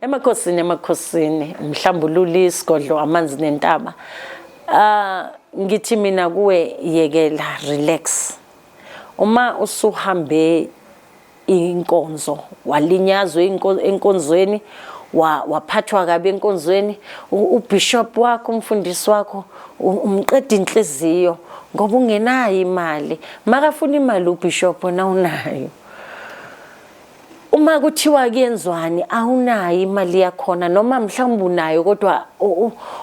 Emakhosini emakhosini mhlambululi isigodlo amanzi nentaba uh, ngithi mina kuwe yekela relax uma usuhambe inkonzo walinyazwa enkonzweni waphathwa kabi enkonzweni ubishop wakho umfundisi wakho umqeda inhliziyo ngoba ungenayo imali makafuna imali ubishop na unayo uma kuthiwa kuyenzwani awunayo imali yakhona noma mhlawumbe unayo kodwa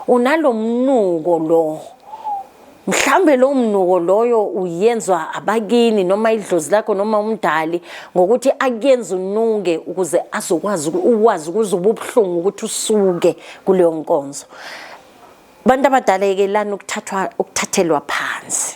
unalomnuko lo mhlambe lo mnuko loyo uyenzwa abakini noma idlozi lakho noma umdali ngokuthi akuyenze unuke ukuze azokwazi ukwazi ukuze ububuhlungu ukuthi usuke kuleyo nkonzo Bantu abadala yekelani ukuthathwa ukuthathelwa phansi.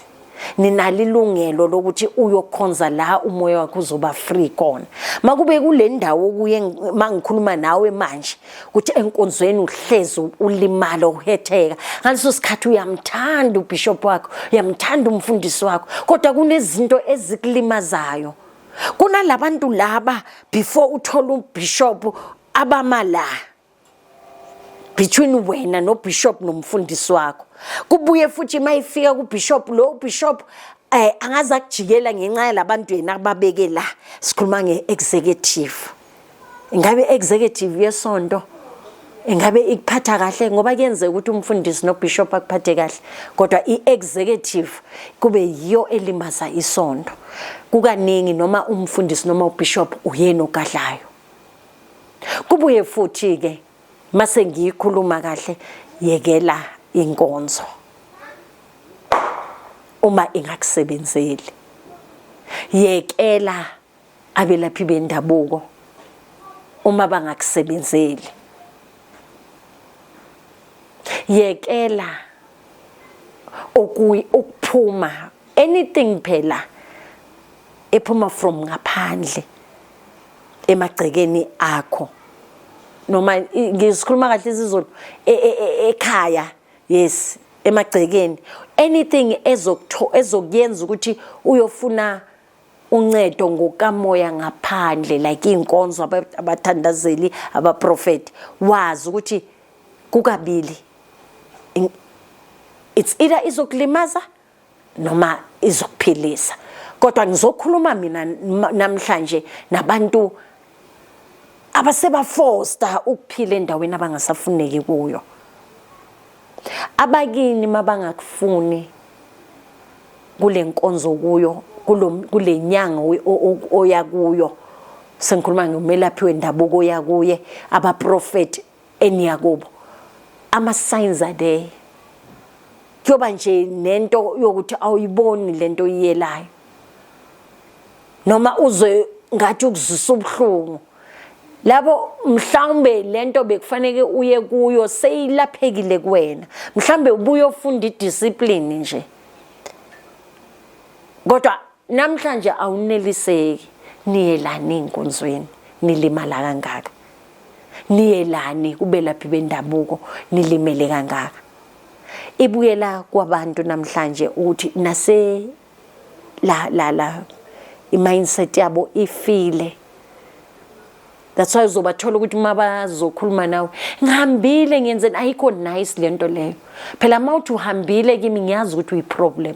Ninalo ilungelo lokuthi uyokhonza la umoya wakho uzoba free kona. Makube kule ndawo kuye mangikhuluma nawe manje ukuthi enkonzweni uhlezi ulimala uhetheka. Ngaleso sikhathi uyamthanda ubishop wakho, uyamthanda umfundisi wakho, kodwa kunezinto ezikulimazayo. Kunalabantu laba before uthola ubishop abama la. between wena nobishop nomfundisi wakho kubuye futhi uma ifika kubishop lo ubishop eh angaze akujikela ngenxa yalabantu yena ababeke la sikhuluma ngeexecutive ingabe executive yesonto ingabe ikuphatha kahle ngoba kuyenzeka ukuthi umfundisi nobishop akuphathe kahle kodwa i-executive kube yiyo elimaza isonto kukaningi noma umfundisi noma ubishop uyena ogadlayo kubuye futhi ke mase ngiyikhuluma kahle yekela inkonzo uma ingakusebenzeli yekela abelaphi bendabuko uma bangakusebenzeli yekela okuyi ukuphuma anything phela ephuma from ngaphandle emagcekeni akho noma ngisikhuluma kahle isizulu e, e, e, ekhaya yes emagcekeni anything ezokutho ezokuyenza ukuthi uyofuna uncedo ngokamoya ngaphandle like inkonzo abathandazeli abaprofeti wazi ukuthi kukabili it's either izokulimaza noma izokuphilisa kodwa ngizokhuluma mina namhlanje nabantu abasebafosta ukuphila endaweni abangasafuneki kuyo abakini mabangakufuni kule nkonzo kuyo kule nyanga oya kuyo sengikhuluma ngomelaphi wendabuko oya kuye abaprofethi eniyakubo ama signs are there kuyoba nje nento yokuthi awuyiboni lento oyiyelayo noma uze ngathi ukuzisa ubuhlungu lapho mhlawumbe lento bekufanele uye kuyo seyilaphekile kuwena mhlawumbe ubuye ufunda idiscipline nje kodwa namhlanje awuneliseki niyelani ey'nkonzweni nilimala kangaka niyelani kubelaphi bendabuko nilimele kangaka ibuyela kwabantu namhlanje ukuthi nase la la la i-mindset yabo ifile that's why uzobathola ukuthi uma bazokhuluma nawe ngihambile ngiyenzeni ayikho nice le nto leyo phela uma uthi uhambile kimi ngiyazi ukuthi uyi-problem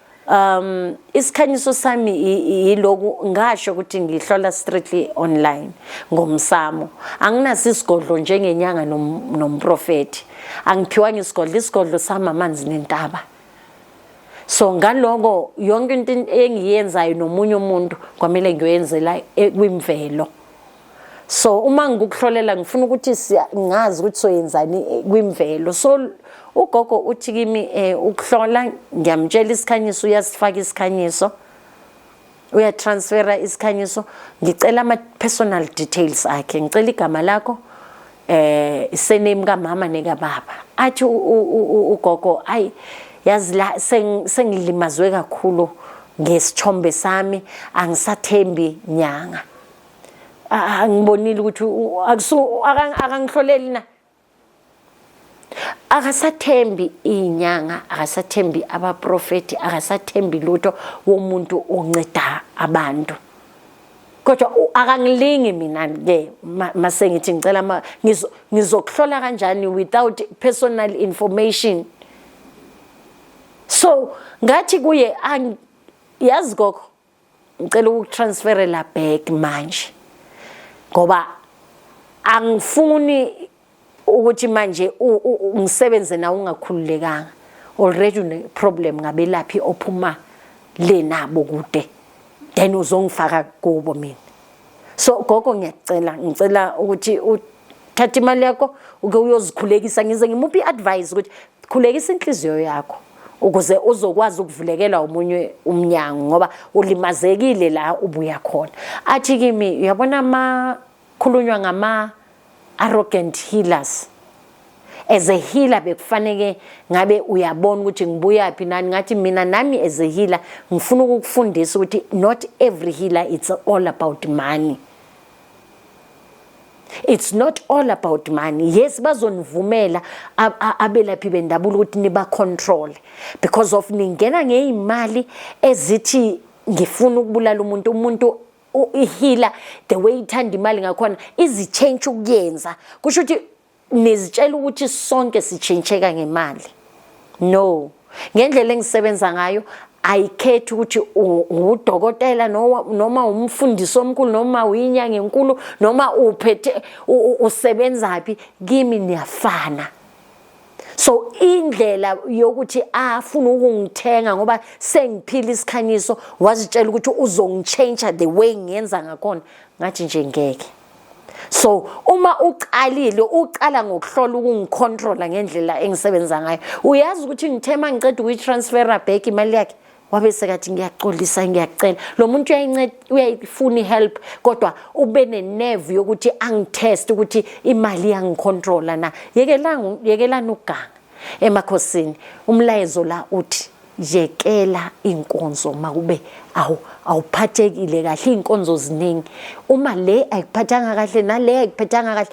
um isikhanyiso sami yiloku ngasho ukuthi ngihlola strictly online ngomsamo anginaso isigodlo njengenyanga nomprofethi angiphiwanga isigodlo isigodlo sami amanzi nentaba so ngaloko yonke into engiyenzayo nomunye umuntu kwamele ngiyoyenzela e, kwimvelo so uma ngikukuhlolela ngifuna ukuthi ngazi ukuthi soyenzani eh, kwimvelo so ugogo uthi kimi eh, ukuhlola ngiyamtshela isikhanyiso uyasifaka isikhanyiso uyatransfera isikhanyiso ngicela ama-personal details akhe ngicela igama lakho eh isename kamama nekababa athi ugogo ayi yazi la sengilimazwe kakhulu ngesithombe sami angisathembi nyanga angibonile ukuthi akangihloleli na akasathembi iy'nyanga akasathembi abaprofethi akasathembi lutho womuntu onceda abantu kodwa akangilingi mina ke mase ngithi ngicela ngizokuhlola kanjani without personal information so ngathi kuye yazi gogo ngicela ukutransferela back manje ngoba angifuni ukuthi manje ngisebenze nawe ungakhululekanga already une problem ngabelaphi ophuma le nabo kude then uzongifaka kubo mina so gogo ngiyacela ngicela ukuthi thatha imali yakho uke uyozikhulekisa ngize ngimuphi i-advice ukuthi khulekisa inhliziyo yakho ukuze uzokwazi ukuvulekela umunye umnyango ngoba ulimazekile la ubuya khona athi kimi uyabona ama khulunywa ngama arrogant healers as a healer bekufaneke ngabe uyabona ukuthi ngibuya phi nani ngathi mina nami as a healer ngifuna ukukufundisa ukuthi not every healer it's all about money it's not all about money yes bazonivumela abelaphi bendabulo ukuthi niba control because of ningena ngeimali ezithi ngifuna ukubulala umuntu umuntu ihila the way ithanda imali ngakhona izichange ukuyenza kusho ukuthi nizitshela ukuthi sonke sitshintsheka ngemali no ngendlela engisebenza ngayo ayikhethi ukuthi ngudokotela noma umfundisi omkhulu noma uyinyanga enkulu noma uphethe usebenzaphi kimi niyafana so indlela yokuthi afuna ukungithenga ngoba sengiphila isikhanyiso wazitshela ukuthi uzongitshentsha the way ngiyenza ngakhona ngathi nje ngeke so uma uqalile uqala ngokuhlola ukungicontrola ngendlela engisebenza ngayo uyazi ukuthi ngithe uma ngiqeda ukuyi-transfera back imali yakhe wabe sekathi ngiyaxolisa ngiyacela lo muntu uyayifuna i-help kodwa ube nenevu yokuthi angitheste ukuthi imali yangicontrola na yekelani ukuganga emakhosini umlayezo la uthi yekela inkonzo makube awu awuphathekile kahle inkonzo ziningi uma le ayikuphathanga kahle nale ayikuphathanga kahle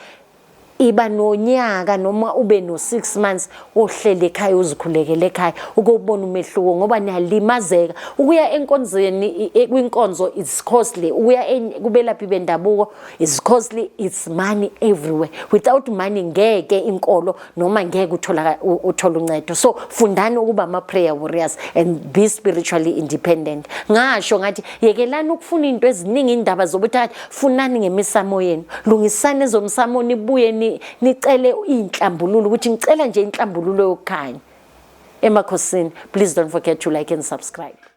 iba nonyaka noma ube no 6 months ohlele ekhaya uzikhulekele ekhaya ukubona umehluko ngoba niyalimazeka ukuya enkonzweni e, kwinkonzo is costly ukuya kubelaphi bendabuko is costly it's money everywhere without money ngeke inkolo noma ngeke uthola uthola uncedo so fundani ukuba ama prayer warriors and be spiritually independent ngasho ngathi yekelani ukufuna into eziningi indaba zobuthakathi funani ngemisamo yenu lungisani ezomsamo nibuye nicele inhlambululo ukuthi ngicela nje inhlambululo yokukhanya emakhosini please don't forget to like and subscribe